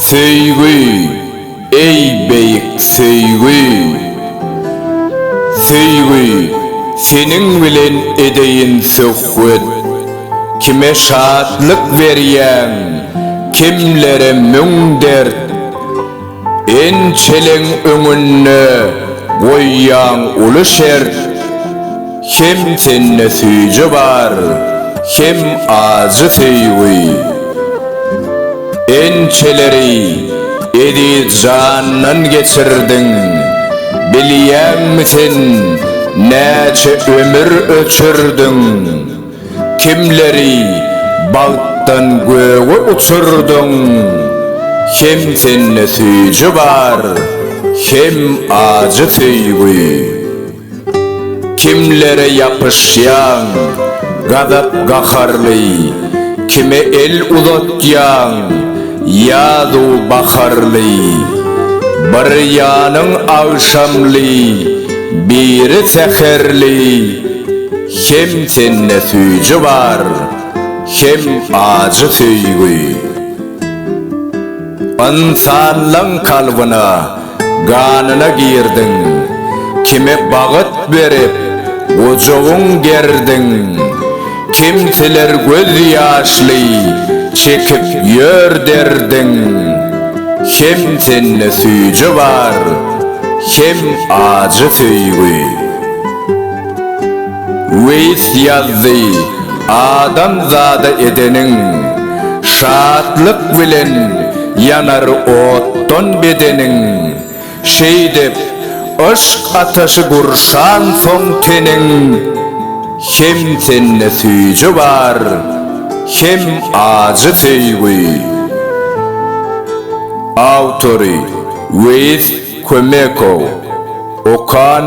Söýgi, eý beýik söýgi! Söýgi, seniň bilen edeýin söhbet. Kime şatlyk berýäň, kimlere müň dert. Ençeleň öňünde goýýaň uly şert, Hem sende süýji bar, hem ajy söýgi. Ençeleri eziz jandan geçirdiň, Bilýäňmi sen, näçe ömür öçürdiň? Kimleri bagtdan göge uçurdyň Hem sende süýji bar, hem ajy söýgi. Kimlere ýapyşýaň gazap-gaharly, Kime el uzatýaň ýazu baharly. Bir ýanyň agşamly, biri säherli. Hem sende süýji bar, hem ajy söýgi. Ynsanlaň kalbyna, ganyna girdiň. Kime bagyt berip, gujagyň gerdiň. Kimseler göz ýaşly çekip ýör derdiň. Hem sende süýji bar, hem ajy söýgi. Weis ýazdy, Adam zada edeniň, şatlyk bilen ýanar otdan bedeniň, Şeýdip, yşk ataşy gurşansoň teniň, Hem sende süýji bar, hem ajy söýgi. Awtory, Weis Kömekow. Okan.